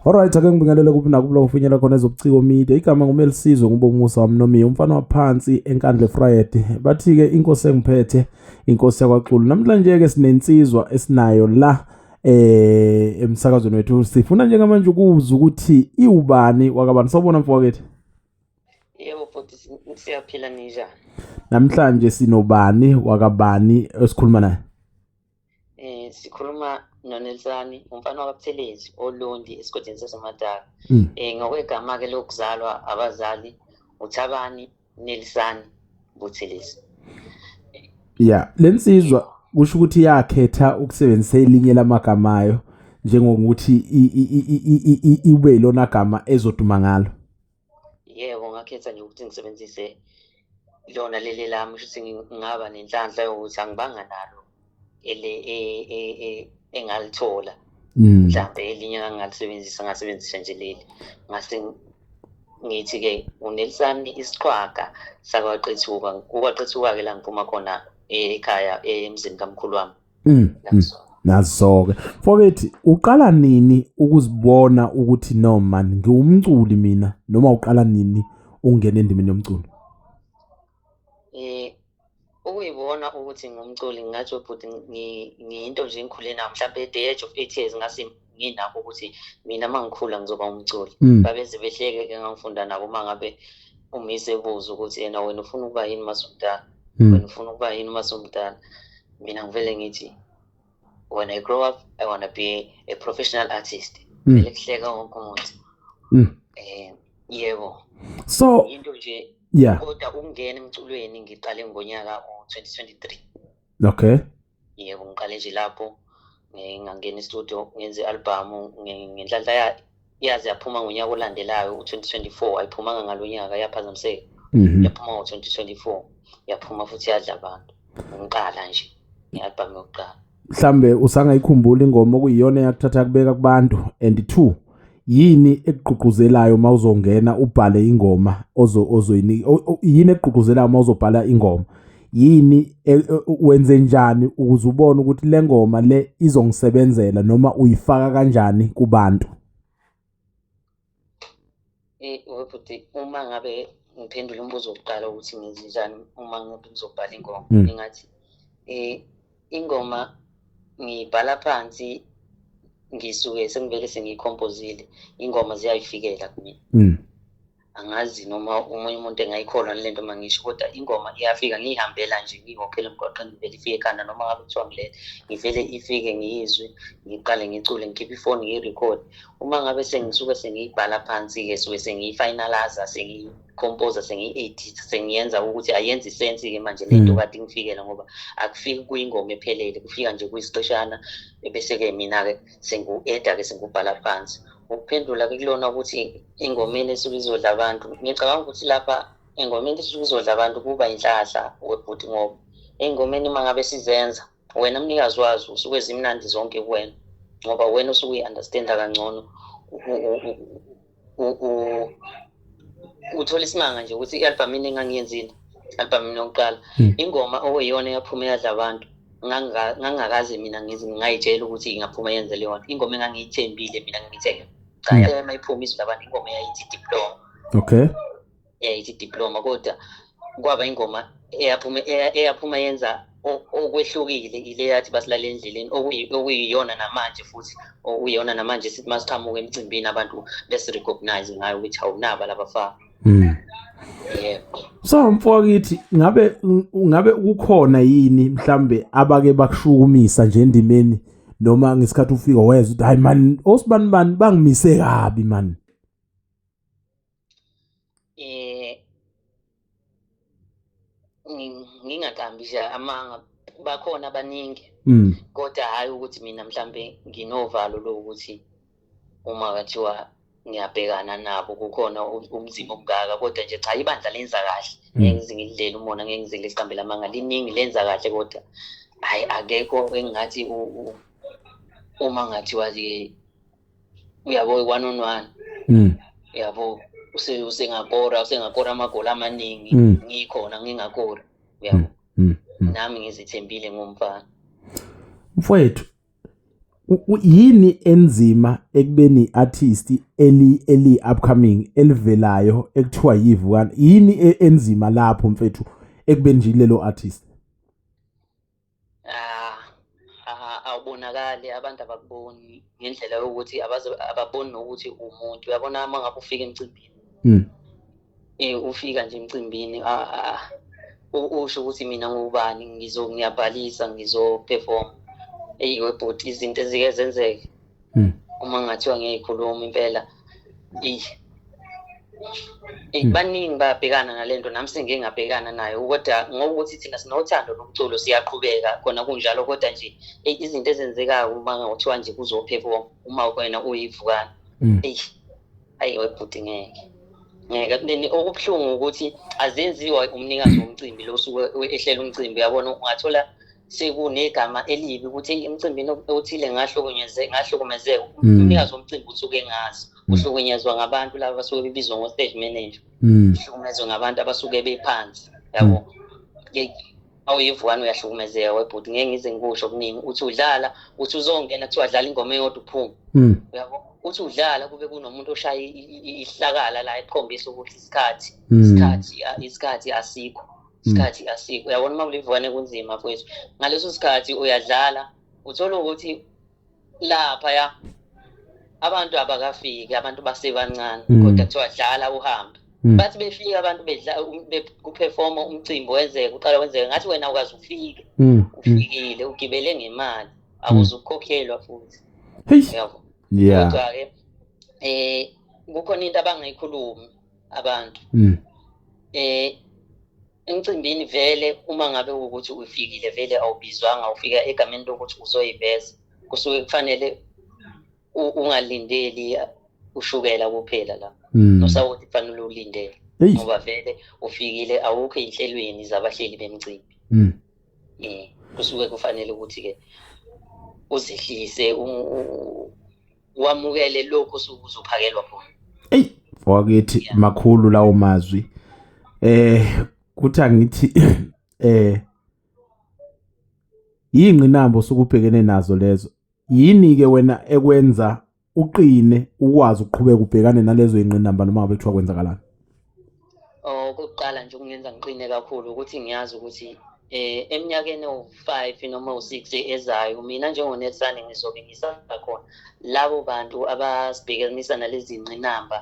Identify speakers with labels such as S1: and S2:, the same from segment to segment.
S1: Alright ake ngibingelele kuphi nakubulo kufinyela khona ezobuciko media igama ngumelisizwe ngube umusa wamnomiya umfana waphansi enkandle Friday bathi ke inkosi engiphethe inkosi yakwaXulu namhlanje ke sinensizwa esinayo la eh emsakazweni wethu sifuna njengamanje ukuzwa ukuthi iwubani wakabani sawubona mfowethu
S2: Yebo futhi siyaphila ninjani Namhlanje
S1: sinobani wakabani esikhuluma naye Eh sikhuluma
S2: noNelsani umfana wakabuthelezi oLundi esigodini saseMadala. Mm. Eh ngokwegama ke lokuzalwa abazali uThabani Nelsani Buthelezi.
S1: Yeah, lensizwa kusho ukuthi yakhetha ukusebenzisa elinye lamagama ayo njengokuthi ibe ilona gama ezoduma ngalo. yebo
S2: ngakhetha nje ukuthi ngisebenzise lona leli lami shuthi ngingaba nenhlanhla yokuthi angibanga nalo ele e, e, e, engalithola mm. mhlawumbe elinye angalisebenzisa ngasebenzisa nje leli ngase ngithi-ke unelisani isiqhwaga sakwaqethuka kukwaqethuka-ke la ngiphuma khona ekhaya emzini kamkhulu wami mm, mm.
S1: nazo-ke mfowethu uqala nini ukuzibona ukuthi no man ngiwumculi mina noma uqala nini ungena endimeni yomculo
S2: um ukuyibona ukuthi ngumculi ngingathi bhuti ngiyinto nje engikhule nayo mhlawumbe at the age of eight years ngase nginakho ukuthi mina uma ngikhula ngizoba umculi mm. babeze behleke-ke ngangifunda nabo uma ngabe umise ebuza ukuthi yena wena ufuna ukuba yini uma sumdala mm. wena ufuna ukuba yini uma sumdala mina ngivele ngithi when i grow up i want to be a professional artist mm. vele kuhleka wonke umuntu um yebo so
S1: into nje
S2: yeah kodwa ukungena emculweni ngiqale ngonyaka u-2023
S1: okay yebo
S2: ngiqale nje lapho ngangena istudio ngenze i-albhamu ngenhlanhla yaze yaphuma ngonyaka olandelayo u-2024 ayiphumanga ngalo nyaka yaphazamiseka mhm. yaphuma ngo-2024 yaphuma futhi yadla abantu ngiqala nje nge-albhamu yokuqala mhlambe
S1: usangayikhumbula ingoma okuyiyona eyakuthatha kubeka kubantu and two yini ekugqugquzelayo uma uzongena ubhale ingoma ozo ozoyini yini ekugqugquzelayo uma uzobhala ingoma yini e, e, wenze njani ukuze ubone ukuthi le ngoma le izongisebenzela noma uyifaka kanjani kubantu
S2: eh futhi uma ngabe ngiphendula umbuzo wokuqala ukuthi ngizinjani uma ngabe ngizobhala ingoma hmm. ngingathi eh ingoma ngiyibhala phansi ngisuke sengivele sengiyikhompozile ingoma ziyayifikela kumina mm. angazi noma omunye umuntu engayikholwa nale nto mangisho kodwa ingoma iyafika ngiyihambela nje ngiyihokhele emgwaqeni ngivele ifike ekhanda noma ngabe kuthiwa ngilele ngivele ifike ngiyizwe ngiqale ngicule ngikhiphe ifoni ngiyirekhode uma ngabe sengisuke sengiyibhala phansi-ke suke sengiyifinalaza composer sengiyi-edit sengiyenza ukuthi ayenzi sensi-ke manje le nto mm. kade ingifikela ngoba akufiki kuyingoma ephelele kufika nje kuyisiqeshana ebese-ke mina-ke sengu-eda-ke sengubhala phansi ukuphendula-ke kulona ukuthi engomeni esuke izodla abantu ngicabanga ukuthi lapha engomeni esuke izodla abantu kuba yinhlahla webhuti ngoba ey'ngomeni uma ngabe sizenza wena mnikazi wazo usuke zimnandi zonke kuwena ngoba wena usuke uyi-understanda kangcono uthola isimanga nje ukuthi i-albhamu ini engangiyenzile albhamu ini yokuqala hmm. ingoma okuyiyona eyaphuma eyadla abantu ngangakaze mina ngayitshela ukuthi ingaphuma yenze leyo nto ingoma engangiyithembile mina ngiyithenge cha hmm. mayiphume izwi labantu ingoma eyayithi diploma okay
S1: eh, ithi
S2: diploma kodwa kwaba ingoma eyaphuma eyaphuma yenza okwehlukile ile yathi basilale endleleni okuyiyona namanje futhi okuyiyona namanje sithi masiqhamuka emcimbini abantu besirecognize ngayo ukuthi awunaba labafana mm. yebo so
S1: mfokithi ngabe ngabe kukhona yini mhlambe abake bakushukumisa nje endimeni noma ngesikhathi ufika wezwa ukuthi hayi man osibani bani bangimise kabi man eh
S2: ngingaqambi nje amanga bakhona abaningi mm. kodwa hhayi ukuthi mina mhlampe nginovalo lokuthi uma kathiwa ngiyabhekana nabo kukhona ubunzima obungaka kodwa nje cha ibandla lenza kahle mm. ngeke ngize ngilidlele umona ngeke ngize ngiliqambele amanga liningi lenza kahle kodwa hhayi akekho engingathi uma ngathiwa-ke uyabo one on one mm. uyabo usengakora usengakora amagoli amaningi mm. ngikhona ngingakora uyabo mm. nami ngizithembile ngomfana mfowethu
S1: yini enzima ekubeni artist eli eli upcoming elivelayo ekuthiwa yivukana yini e, enzima lapho mfethu ekubeni nje lelo artist Ah,
S2: awubonakali abantu abakuboni ngendlela yokuthi ababoni nokuthi umuntu uyabona uma ngabe ufika emcimbini um ufika nje emcimbini usho ukuthi mina ngubani ngiyabhalisa ngizoperforma eyi webhuti izinto ezike zenzeke mm. uma ngathiwa ngiyikhuluma impela eyi hmm. baningi bayabhekana nalento nami sengike ngabhekana nayo kodwa ngokuthi thina sinothando lomculo siyaqhubeka khona kunjalo kodwa nje izinto ezenzekayo uma ngothiwa nje kuzophepha uma wena uyivukana hmm. eyi ayi webhuti ngeke ngeke then okubuhlungu ukuthi azenziwa umnikazi womcimbi lo suke ehlela umcimbi yabona ungathola sekunegama elibi ukuthi emcimbini othile ngahlukunyezeka ngahlukumezeka mm. umnikazi womcimbi usuke engazi mm. uhlukunyezwa ngabantu laba basuke bebizwa ngo-stage manager mm. uhlukumezwe ngabantu abasuke bephansi yabo awuyivukani uyahlukumezeka webhuti ngeke ngize ngikusho okuningi uthi udlala uthi uzongena kuthiwa dlala ingoma eyodwa uphume uyabo uthi udlala kube kunomuntu oshaya ihlakala la ekhombisa ukuthi isikhathi isikhathi isikhathi asikho isikhathi mm. asikho uyabona uma kulivukane kunzima mfowethu ngaleso sikhathi uyadlala uthola ukuthi laphaya abantu abakafiki abantu basebancane mm. kodwa kuthiwa dlala uhambe mm. bathi befika abantu um, kuperforma umcimbi wenzeke uqala wenzeke ngathi wena ukwazi ufike ufikile ugibele ngemali akuze ukukhokhelwa futhi yabo kodwa-ke um kukhona into abangayikhulumi abantu mm. eh emcimbini vele uma ngabe ukuthi ufikile vele awubizwanga ufika egameni lokuthi uzoyiveza kusuke kufanele ungalindeli ushukela kuphela la mm. nosawoti kufanele ulindele ngoba vele ufikile awukho ey'nhlelweni zabahleli bemcimbi um kusuke kufanele ukuthi-ke uzehlise wamukele lokho sokuzophakelwa khona eyi wakithi
S1: makhulu lawo mazwi eh kuthi angithi eh yingqinambo sokubhekene nazo lezo yini ke wena ekwenza uqine ukwazi ukuqhubeka ubhekane nalezo ingqinamba noma ngabe kuthiwa kwenzakalani Okokuqala
S2: nje okungenza ngiqine kakhulu ukuthi ngiyazi ukuthi eh eminyakeni ewu-five noma ewu-six ezayo mina njengonetsane ngizobe ngisakhona labo bantu abasibhekanisa nalezi nqinamba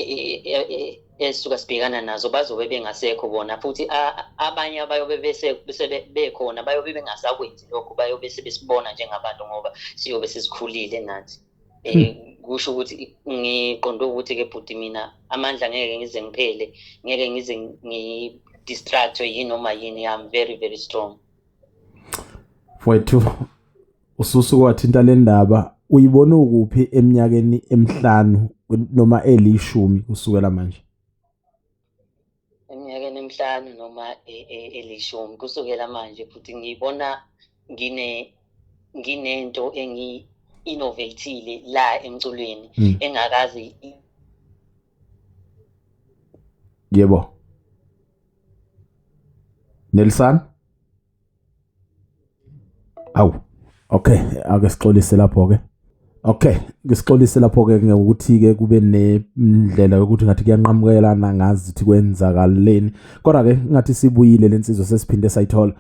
S2: e-, e-, e-, ezisuka sibhekana nazo bazobe bengasekho bona futhi abanye abayobe bekhona bayobe bengasakwenzi lokho bayobe sebesibona njengabantu ngoba siyobe sesikhulile nathi eh, hmm. kusho ukuthi ngiqonde ukuthi ke bhuti mina amandla ngeke ngize ngiphele ngeke ngize ngidistractwe yinoma yini i'm very very strong mfowethu
S1: ususuke wathinta le ndaba uyibona ukuphi eminyakeni emihlanu noma elishumi kusukela manje
S2: eminyakeni emihlanu noma e, e, elishumi kusukela manje futhi ngibona ngine nginento engi-innovatile la emculweni mm. engakazi
S1: yebo Nelson awu okay ake sixolise lapho ke okay ngisixolise lapho ke ngokuthi ke kube nendlela yokuthi ngathi kuyanqamukelana ngazi ukuthi kwenzakaleni kodwa ke ngathi sibuyile lensizwa sesiphinde sayithola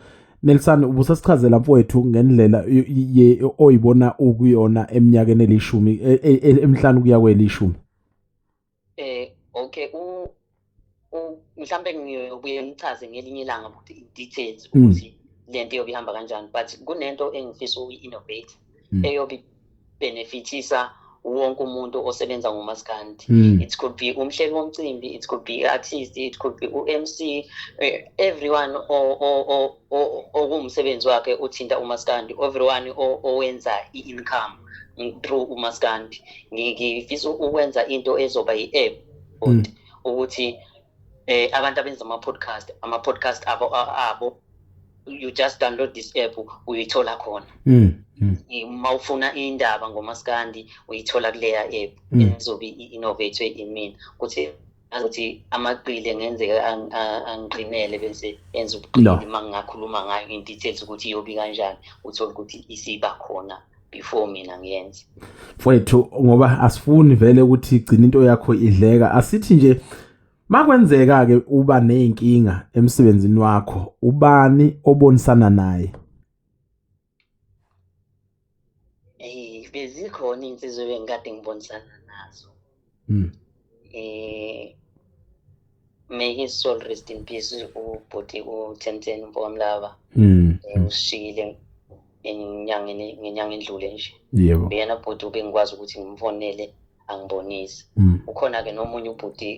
S1: Nelson ubusasichazela mfowethu ngendlela oyibona ukuyona eminyakeni elishumi e, e, e, emhlanu kuya kwelishumi eh
S2: okay u mhlambe ngiyobuye ngichaze ngelinye ilanga ukuthi in details hmm. ukuthi lento iyobe ihamba kanjani but kunento engifisa uyi-innovate hmm. eyobe benefitisa wonke umuntu osebenza ngomaskandi hmm. it could be umhleli womcimbi it could be artist it could be u-mc eh, everyone okuwumsebenzi wakhe uthinta umaskandi everyone owenza i-income through umaskandi ngifisa ukwenza into ezoba yi-app mm. ukuthi eh abantu abenza ama-podcast ama-podcast abo abo you just download this app uyithola khona mm, mm. uma ufuna indaba ngomaskandi uyithola kuleya app izobe i-innovate imina ukuthi ngazi ukuthi amaqili engenzeka angiqinele bese enza ubuqili uma ngingakhuluma ngayo in-details ukuthi iyobi kanjani uthole ukuthi isiba khona before mina ngiyenze mfowethu
S1: ngoba asifuni vele ukuthi igcina into yakho idleka asithi nje makwenzeka ke uba nezinkinga emsebenzini wakho ubani obonisana naye
S2: Eh bezikhona insizwe bengikade ngibonisana nazo. Mm. Eh may his soul rest in peace ubhuti uTenten Mpomlaba. Mm. Eh, mm. Ushile enyangeni ngenyanga endlule nje. Yebo. Uyena bhuti
S1: ubengikwazi
S2: ukuthi ngimfonele angibonise. Mm. Ukhona ke nomunye ubhuti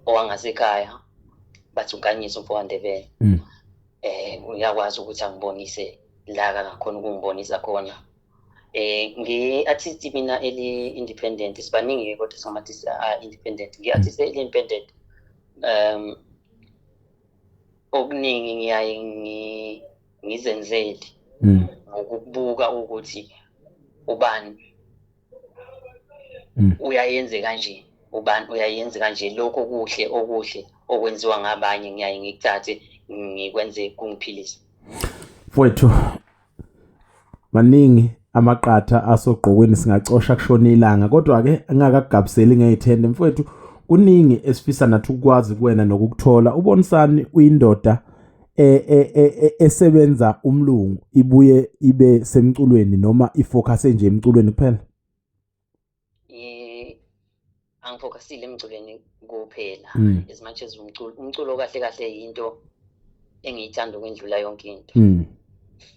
S2: owangasekhaya bathi unkanyisa umfowandebele. Mm. eh uyakwazi ukuthi angibonise la kangakhona ukungibonisa khona eh ngi-artist mina eli-independent sibaningi-ke kodwa singathi a-independent ngi-artist mm. eli-independent um okuningi ngiyaye ngizenzele mm. ngokubuka ukuthi ubani mm. uyayenze kanje ubani uyayenze kanje lokhu okuhle okuhle okwenziwa ngabanye ngiyaye ngikuthathe ngikwenze kungiphilise mfowethu
S1: maningi amaqatha asogqokweni singacosha kushona ilanga kodwa-ke angakagabiseli ngeyithende mfowethu kuningi esifisa nathi ukukwazi kuwena nokukuthola ubonisani uyindoda e, e, e, esebenza umlungu ibuye ibe semculweni noma ifocus nje emculweni kuphela eh
S2: angifocusile emculweni kuphela hmm. as much as umculo umculo kahle kahle yinto engiyithanda ukwendlula yonke into hmm.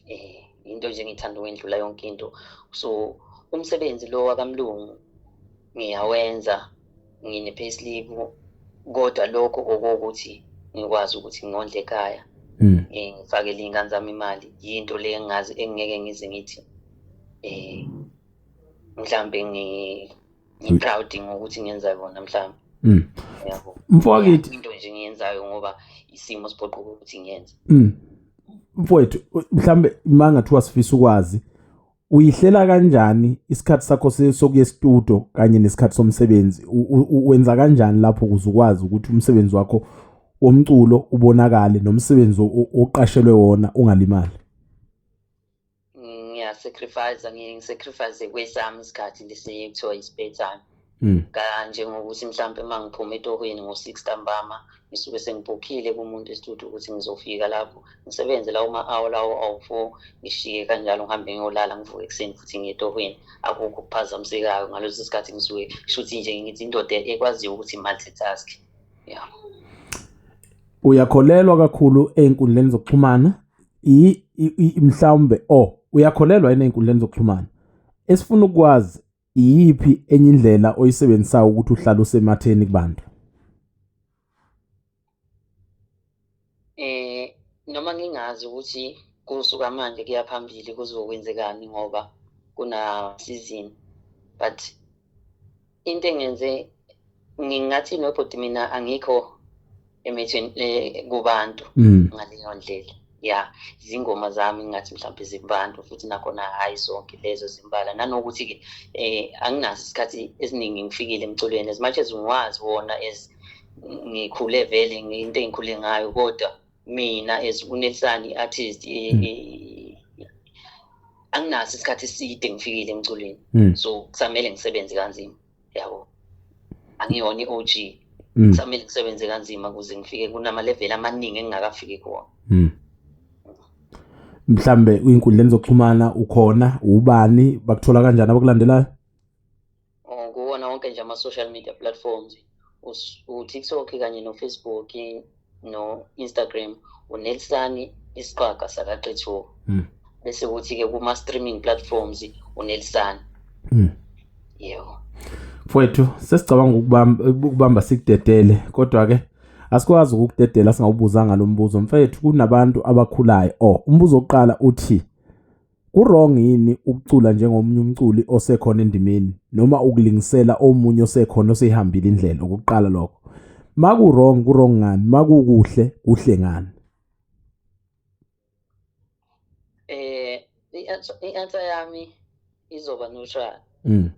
S2: eh into nje engiyithanda ukwendlula yonke into so umsebenzi lo wakamlungu ngiyawenza ngine payslip kodwa lokho okokuthi ngikwazi ukuthi ngondle ekhaya hmm. eh, ngifakele iy'ngane zami imali yinto le engazi engingeke ngize ngithi eh mhlambe ngi ngiproud ngokuthi ngenza kona mhlambe Mm. Yabo. Mfowethu into
S1: nje ngiyenzayo
S2: ngoba isimo siphoqa ukuthi ngiyenze. Mm.
S1: Mfowethu mhlambe manga thiwa sifisa ukwazi uyihlela kanjani isikhathi sakho sokuye studio kanye nesikhathi somsebenzi wenza kanjani lapho ukuze ukwazi ukuthi umsebenzi wakho womculo ubonakale nomsebenzi oqashelwe wona ungalimali
S2: ngiyasacrifice ngisacrifice kwesami isikhathi lesi kuthiwa i-spare time Mm. kanje ngokuthi mhlawumpe uma ngiphuma etohweni ngo-six ntambama ngisuke sengibhokhile kumuntu esithuthi ukuthi ngizofika lapho ngisebenze lawo ma-awo lawo awu-four ngishiye kanjalo ngihambe ngiyolala ngivuke ekuseni futhi ngiye etohweni akukho okuphazamisekayo ngaleso sikhathi ngisuke shuthi nje ngithi indoda ekwaziyo ukuthi multitask ya yeah. uyakholelwa
S1: kakhulu ey'nkundleni zokuxhumana mhlawumbe o oh, uyakholelwa yini ey'nkundleni zokuxhumana esifuna ukwazi iyiphi enye indlela oyisebenzisayo ukuthi uhlale usematheni kubantu
S2: eh noma ngingazi ukuthi kusuka manje kuya phambili kuzokwenzekani ngoba kuna season but into engenze ngingathi nobhuti mina angikho emethweni eh, kubantu mm. ngaleyo ndlela ya izingoma zami ngathi mhlawumbe zikubantu futhi nakhona hhayi zonke lezo zimbala nanokuthi-ke eh anginaso isikhathi esiningi ngifikile emculweni as much as ngiwazi wona as ngikhule vele into engikhule ngayo kodwa mina as unelisani i-artist eh, mm. eh, anginaso isikhathi eside ngifikile emculweni mm. so kusamele ngisebenze kanzima yabo angiyona i-og mm. samele ngisebenze kanzima ukuze ngifike kunamaleveli amaningi engingakafiki kuwona mm.
S1: mhlambe uyinkundleni zokuxhumana ukhona ubani bakuthola kanjani abakulandelayo oh,
S2: kuwona wonke nje ama-social media platforms utiktok kanye nofacebook no-instagram unelsani isiqwaga sakaqethuko mm. bese kuthi-ke kuma-streaming platforms unelsani mm. yebo mfowethu
S1: sesicabanga ukubamba sikudedele kodwa-ke asikwazi ukukudedela singawubuzanga lo mbuzo mfethu kunabantu abakhulayo o oh, umbuzo wokuqala uthi Kurong yini ukucula njengomunye umculi osekhona endimeni noma ukulingisela omunye osekhona oseyihambile indlela ukuqala lokho? Makurong kurong ngani? Makukuhle kuhle ngani?
S2: Eh i-answer yami izoba neutral. Mm.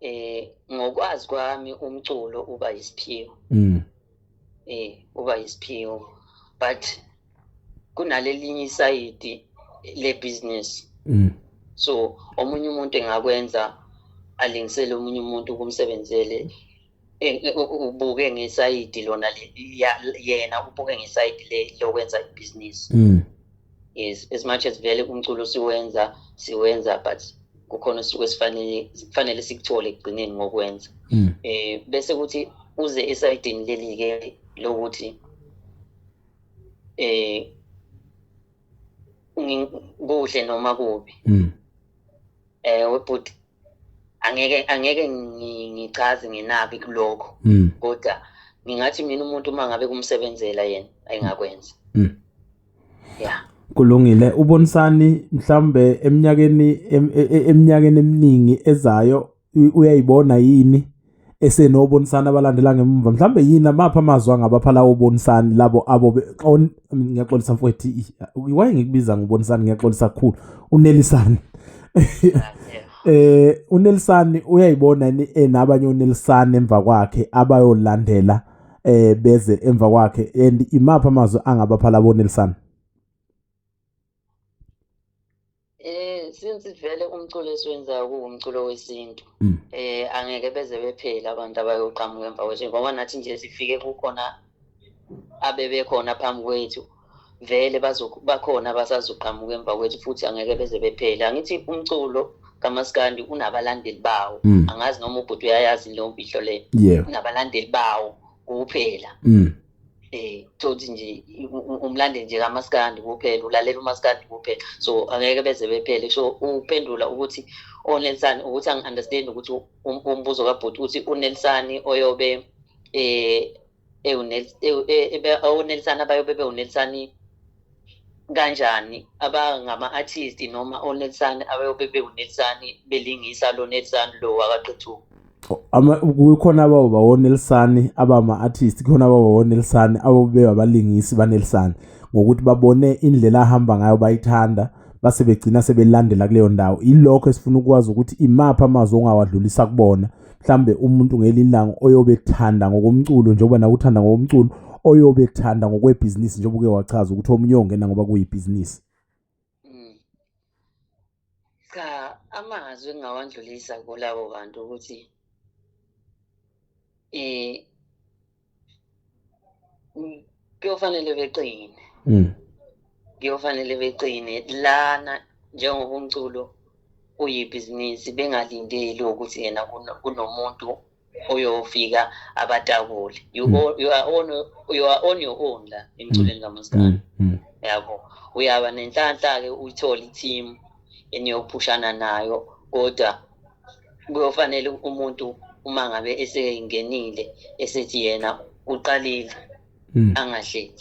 S2: eh ngokwazi kwami umculo uba isiphiwo mm eh uba isiphiwo but kunalelinye isayidi le business mm so omunye umuntu engakwenza alingisele omunye umuntu kumsebenzele ubuke ngesayidi lona yena ubuke ngesayidi le lokwenza ibhizinisi mm. yes as much as vele umculo siwenza siwenza but kukhona osuke sifanele kufanele sikuthole ekugcineni ngokwenza mm. eh bese kuthi uze esayidini leli ke lokuthi eh kuhle noma kubi mm. eh webhuti angeke angeke ngichaze nginaki kulokho hmm. kodwa ngingathi mina umuntu uma ngabe kumsebenzela yena ayingakwenza hmm. yeah kulungile
S1: ubonisani mhlambe eminyakeni e, e, eminyakeni eminingi ezayo uyayibona yini esenobonisani abalandela ngemva mhlambe yini amapha amazwi angabapha lawo bonisani labo abo ngiyaxolisa mfowethu why ngikubiza ngobonisani ngiyaxolisa kakhulu unelisani eh unelisani uyayibona yini enabanye eh, unelisani emva kwakhe abayolandela eh beze emva kwakhe and imapha amazwi angabapha labo nelisani
S2: Eh since vele umculo esiwenzayo kuwumculo wesintu. Mm. Eh angeke beze bephela abantu abayoqhamuka emva kwethu ngoba nathi nje sifike kukhona abebekhona phambi kwethu. Vele bazobakhona basazoqhamuka emva kwethu futhi angeke beze bephela. Angithi umculo kamaskandi unabalandeli bawo. Mm. Angazi noma ubhuti uyayazi leyo mpihlo le. Unabalandeli bawo kuphela. Mm. eh thothi nje umlande nje kamaskandi kuphela ulalela umaskandi kuphela so angeke beze bephele so uphendula ukuthi onelsani ukuthi angi-understand ukuthi um, umbuzo kabhuti uthi unelsani oyobe eh ewunelsani e, e, abayobe bewunelsani kanjani abangama-artist noma onelsani abayobe bewunelsani belingisa lo nelsani lo wakaqethuka
S1: kukhona ababo bawonelisani abama-artist kukhona ababo bawonelisani ababeba abalingisi banelisani ngokuthi babone indlela ahamba ngayo bayithanda base begcina sebelandela kuleyo ndawo ilokho esifuna ukwazi ukuthi imaphi amazwi ongawadlulisa kubona mhlambe umuntu ngelinye ilanga oyobe ethanda ngokomculo njengoba nawe uthanda ngokomculo oyobe ethanda ngokwebhizinisi njengoba uke wachaza ukuthi omunye ongena ngoba kuyibhizinisi
S2: mm. cha amazwi engingawandlulisa kulabo bantu ukuthi eh kuyofanele beqine mm. kuyofanele beqine lana njengoba umculo uyibhizinisi bengalindeli ukuthi yena kunomuntu oyofika abatakule you, mm. you, are on, you are on your own la emculweni mm. kamaskana mm. mm. yabo uyaba nenhlanhla-ke uyithole i-team eniyophushana nayo kodwa kuyofanele umuntu uma ngabe esengenile esethi yena uqalile hmm. angahlehli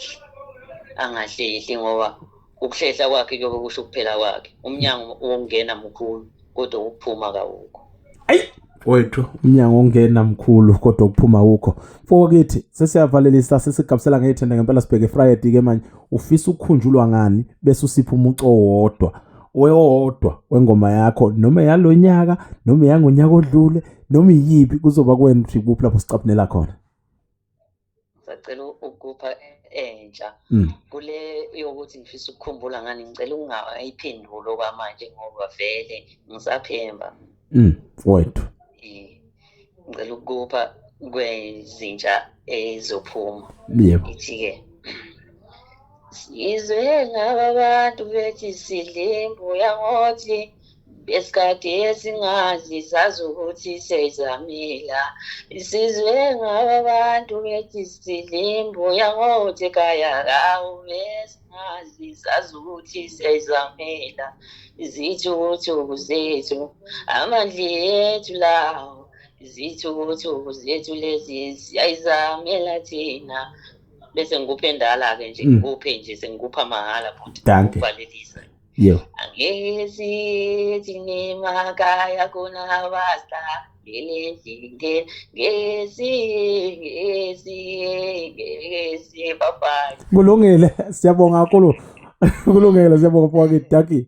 S2: angahlehli ngoba ukuhlehla kwakhe kuyobe kusho ukuphela kwakhe umnyango wokungena mkhulu kodwa ukuphuma kawukho ayi wethu
S1: umnyango ongena mkhulu kodwa ukuphuma wukho mfowakithi sesiyavalelisa sesigabisela ngeyithenda ngempela sibheke friday ke manje ufisa ukukhunjulwa ngani bese usipha umuco wodwa wewodwa wengoma yakho noma yalonyaka noma yangonyaka odlule noma iyiphi kuzoba kwena ukuthi kuphi lapho sicaphunela khona
S2: sacela ukupha entsha mm. kule yokuthi ngifisa ukukhumbula ngani ngicela ungayiphenduli okwamanje ngoba vele ngisaphemba mm,
S1: wethu
S2: ngicela ukupha kwezintsha ezophuma yebo ithi-ke sizwe ngaba abantu bethi sidle imbuya ngothi esikade esingazi sazi ukuthi sezamila sizwe ngaba abantu bethi sidle imbuya ngothi kaya kawu besi ngazi zazi ukuthi siyayizamela zithi ukuthi ukuzethu amandla ethu lawo zithi ukuthi ukuzethu lezi siyayizamela thina bese ngikuphe ndala-ke nje mm. ngikuphe nje sengikupha mahhala futhi danke Yo. Ngezi zinema kaya kuna wasta ngelinge ngezi ngezi
S1: ngezi
S2: bye
S1: Kulungile siyabonga kakhulu. Kulungile siyabonga mfowethu Ducky.